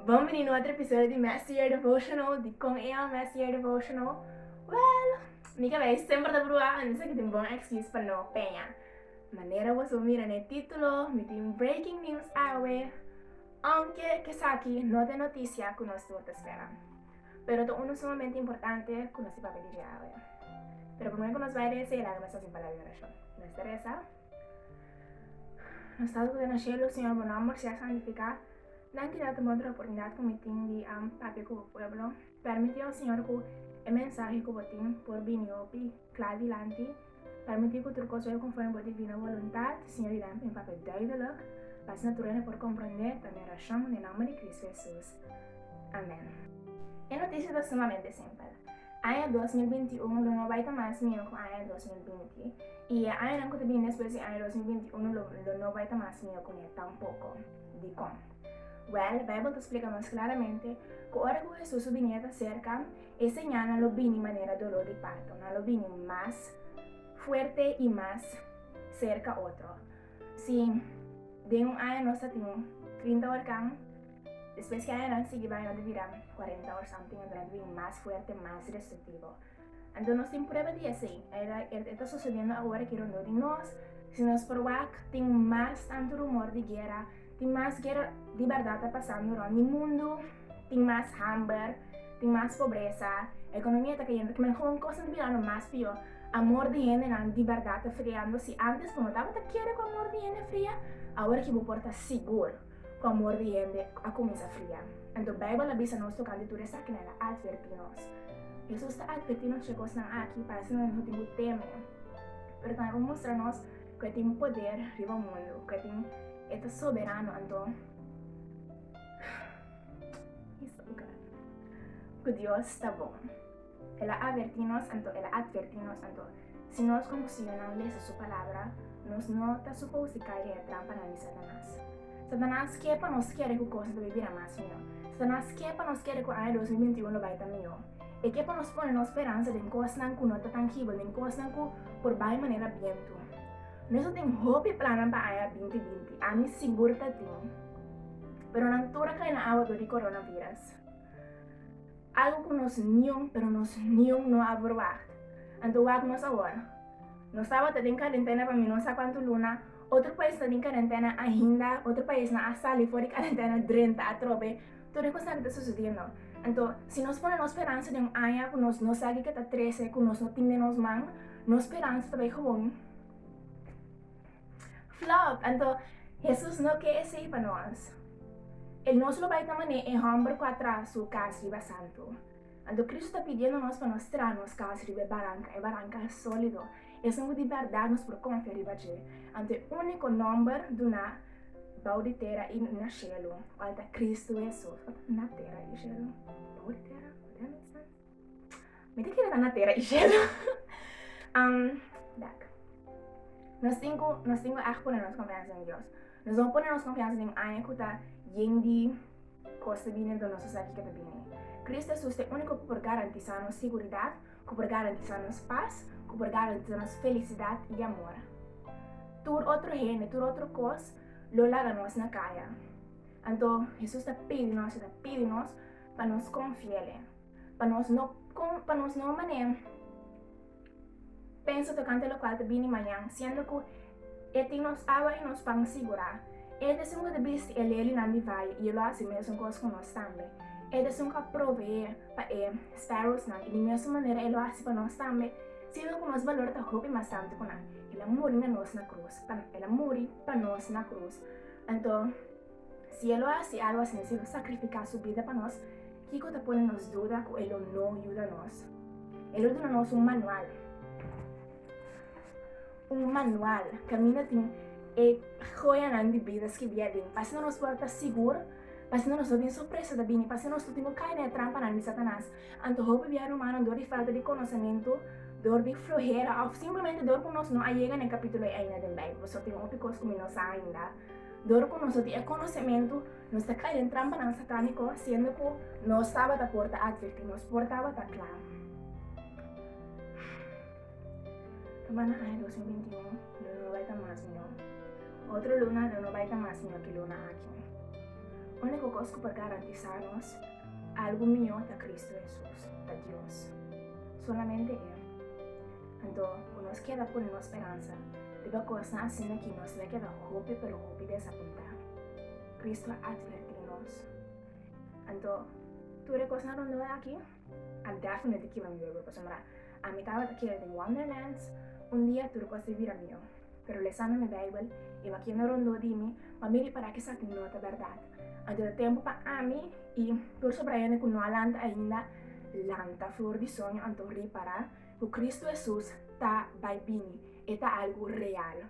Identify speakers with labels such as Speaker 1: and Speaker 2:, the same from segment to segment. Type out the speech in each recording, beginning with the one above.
Speaker 1: Bon bini na otro episodio di Master Your Devotional, di con e a Master Your Devotional. Well, mi ka bay semper ta bruha, a misa ki tin bon excuse pa no peña. Manera wos a mira n'e titulo, mi tin breaking news awe, aunke kesaki no ta e noticia cu nos tur ta spera. Pero ta uno sumamente importante cu nos e papia di dia awe. Pero prome cu nos bay reza, e laga nos ta sin palabra di oracion. Nos ta reza. Nos Tata ku ta na shelu, Señor, bo nòmber sea santifiká. Danki di atu otro oportunidat ku mi tin di a papia ku bo pueblo. Permití, o Señor, ku e mensahe ku bo tin por bini hopi kla dilanti. Permití ku tur kos bai konformi bo divino boluntat. Señor, yuda mi papia duideluk, pa asina tur hende por komprondé pa mi orashon den nòmber di Kristu Hesus. Amèn. E notisia ta sumamente simpel. Aña dos mil binti un lo no bai ta mas mió ku aña dos mil binti. I e añanan ku ta bini despues di aña dos mil binti uno lo lo no bai ta mas miedu kuné tampoko. Dikon? Wèl, Beibel ta splika nos klaramente ku ora ku Hesus su binida ta serka, e señalnan lo bini manera doló di parto. Nan lo bini mas fuerte i mas serka otro. Si den un aña nos ta tin trinta horkan, despues ku e añanan sigui bai no ta bira cuarenta or something, anto nan ta bini mas fuerte, mas destruktivo. Anto nos tin prueba di esei. E ta sosediendo awor aki rondó di nos. Si nos por wak, tin mas tantu rumor di guera, tin mas guera di bardad ta pasando rond di mundu, tin mas hamber, tin mas pobresa, economia ta cayendo. Kimen hopi cosnan ta bigando mas pió. Amor di hendenan di bardad ta friando. Si antes bo no tabata kere cu amor di hende fria, awor aki bo por ta sigur. Cu amor di hende a cuminsa fria. Anto Bijbel a bisa nos tocante tur esaki n'el a adverti nos. Jesus ta adverti nos dje cosnan aki pa haci nos no tin cu teme. Pero tambe pa mustra nos cu e tin poder riba mundo, cu e tin e ta soberano. Anto cu Dios ta bon. El a avertí nos, anto el a advertí nos, anto si nos komo siñonan lesa su palabra, nos no ta supous di kai den e trampanan di Satanas. Satanas ke pa nos kere ku kosnan ta bai bira mas mihó. Satanas ke pa nos kere ku aña dos mil binti un lo bai ta mihó. E ke pa nos pone nos speransa den kosnan ku no ta tangibel, den kosnan ku por bai manera bien tu. Nos ta tin hopi plannan pa aña binti binti, ami sigur ta tin, pero nan tur a kai na awa dor di coronavirus. Algo cu nos niñon, pero nos niñon no a verwacht. Anto wak nos awor. Nos tabata den karentena pa mi no sa cuanto luna, otro pais ta den karentena ainda, otro paisnan a sali for di karentena drenta atrobe, tur e cosnan cu ta sucediendo. Anto, si nos pone nos speransa den un aña cu nos no sa kiko ta trece, cu nos no tin den nos man, nos speransa ta bay gewoon. Flòk, anto Hesus no ke esei pa nos. E nos lo bai ta man'é e hòmber ku a tra su kas riba santu. Anto Kristu ta pidié nos pa nos tra nos kas riba e baranka, e baranka sólido, esun ku di bèrdat nos por konfia riba dje. Anto e úniko nòmber duná bou di tera i na shelu, kual ta Kristu Hesus. Ot, na tera i shelu, bou di tera, ot, dat make sense? Mi ta keda na tera i shelu. um, dak. Nos tinku, nos tinku ach pone nos konfiansa in Dios. Nos no pone nos konfiansa in aña ku ta yen di kos ta bini enton nos ta sa kiko ta bini. Kristu Jesus te uniko ku por garantisa nos siguridat, ku por garantisa nos pas, ku por garantisa nos felisidat i amor. Tur otro hende, tur otro kos lo laga nos na kaya. Anto Jesus ta pidi nos, e ta pidi nos pa nos konfi'e. Pa nos no con, pa nos no man'é pensa tocante locual ta bini mañan, siendo cu E tin nos awa y nos pan sigurá. E ta esun cu ta bisti e lelinan di vaye y E lo haci mesun cos cu nos tambe. E ta esun cu a proveé pa e sparrowsnan y di mesun manera E lo haci pa nos tambe, siendo cu nos balor ta hopi mas tantu cu nan. El a muri na nos na cruz, pa, El a muri pa nos na cruz. Anto. Si e lo hasi algu asin sin sakrifiká su bida pa nos, kiko ta pone nos duda ku e lo no yuda nos? E lo duna nos un manual. Un manual. Kaminda tin e joyanan di bida skibí aden, pa asina nos por ta sigur, pa asina nos no tin sorpresa ta bini, pa asina nos no tin ku kai den e trampanan di Satanas. Anto hopi bia rumannan dor di falta di konosementu, dor di flohera òf simplemente dor ku nos no a yega na e kapítulo ei aina den Beibel. Pasobra tin hopi kos ku mi no sa ainda. Dor ku nos no tin e konosementu, nos ta kai den trampanan satániko, siendo ku nos tabata por ta atvertí, nos por tabata kla. Kamba na aña dos mil binti un, luna no bai ta mas mihó. Otro luna lo no bai ta mas mihó ki luna aki. Úniko kos ku por garantisá nos algu mihó ta Kristu Hesus, ta Dios. Solamente El. Anto, ku nos keda pone nos speransa riba kosnan asina ki nos na keda hopi pero hopi desapuntá. Kristu a atvertí nos. Anto, tur e kosnan rondó aki a definitely kiba luego, pasobra ami tabata keda den Wonderlands, un dia tur kos lo bira mihó. Pero lesando mi Beibel i wakiendo rondó di mi, pa mi ripará ku esaki no ta bèrdat. Anto ta tempu pa ami i tur sobrayende ku no a lanta ainda, lanta flor di soño anto ripará. Cu Cristo Jesús ta bay bini, e ta algu real.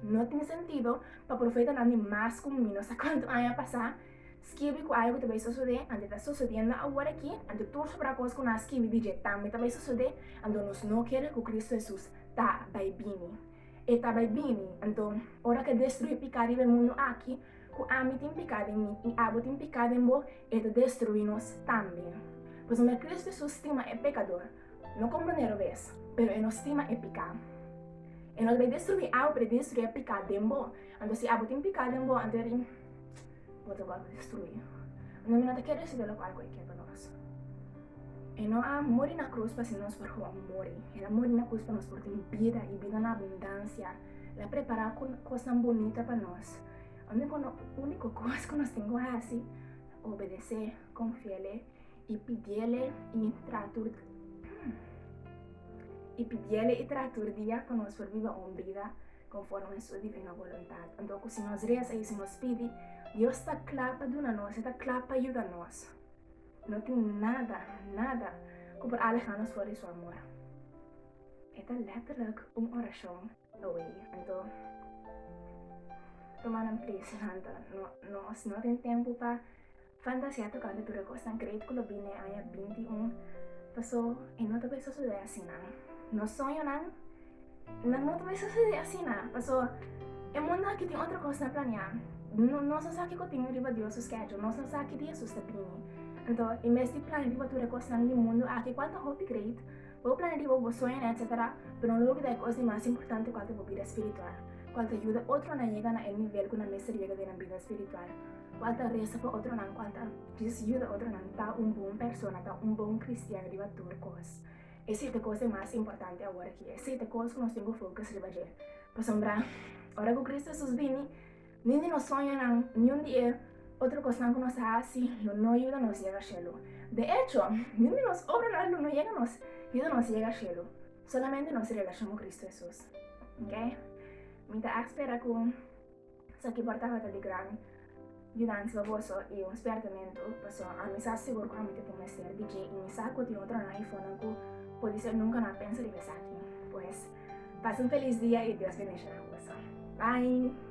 Speaker 1: No tin sentido pa profetanan di mas cu mi no sa cuantu aña pasá skirbi cu algu ta bay sosodé, anto e ta sosodiendo awor aki, anto tur sobra cos cu nan a skirbi di dje tambe ta bay sosodé, anto nos no kere cu Cristo Jesús ta bay bini. E ta bay bini, anto ora ke destruí picá riba e mundu aki, cu ami tin picá den mi i abo tin picá den bo, e ta destruí nos tambe. Pasobra Cristo Jesús stima e pecador, No komprondero bes, pero e no stima e piká. E no ta bai destruí au p'e destruí e piká den bo. Anto si abo tin piká den bo anto ri bo ta wòrdu destruí. No mi no ta kere resibí lokual ku e ke pa nos. E no a muri na krus pa si nos por kua muri. El a muri na krus pa nos por tin bida i bida na abundansia. El a prepará kosnan bunita pa nos. Úniko kos ku nos tin ku hasi ta obedes'é, konfiaL'é. I pidiele i tratur i pidiele i tratur dia pa nos por viva un bida konforme su divino boluntat. Anto ku si nos resa i si nos pidi, Dios ta kla pa duna nos, e ta kla pa yuda nos. No tin nada, nada ku por aleha nos for di su amor. E ta letterlik un orashon away. Anto, rumannan, plis lanta. No, nos no tin tempu pa Fantasia tokante tur e kos nan great ku lo bin den aña binti un paso e no ta por sosode asinan. Nos soñonan nan no ta por sosode asina paso e mundu aki tin otro kos na plania. No, nos no sa kiko tin riba Dios su schedule, nos no sa ki dia Jesus ta bini. Anto en bes di plania riba tur e kos nan di mundu aki kual ta hopi great, bo plania riba bo soñonan etsetera, pero no olbida e kos di mas importante kual ta bo bida spiritual, kual ta yuda otronan yega na e nivel ku nan mester yega den nan bida spiritual. Ku a ta resa pa otronan, ku a ta disi yuda otronan, ta un bon persona, ta un bon kristian riba tur kos. E siete kos e mas importante awor aki, e siete kos ku nos tin ku fokus riba dje. Pasobra ora ku Kristu Hesus bini, niun di nos soñonan, niun di e otro kosnan ku nos a hasi lo no yuda nos yega shelu. De echo, niun di nos obranan lo no yega nos yuda nos yega shelu, solamente nos relashon ku Kristu Hesus. Oke, mi ta a spera ku. Sa ki por tabata di gran yudansa pa boso i un spièrtamentu, paso ami sa sigur ku ami tin ku mester di dje i mi sa ku tin otro nan i fonan ku pudi ser nunka nan a pensa riba esaki. Pues, pasa un felis dia i Dios bendisha nan boso. Bye!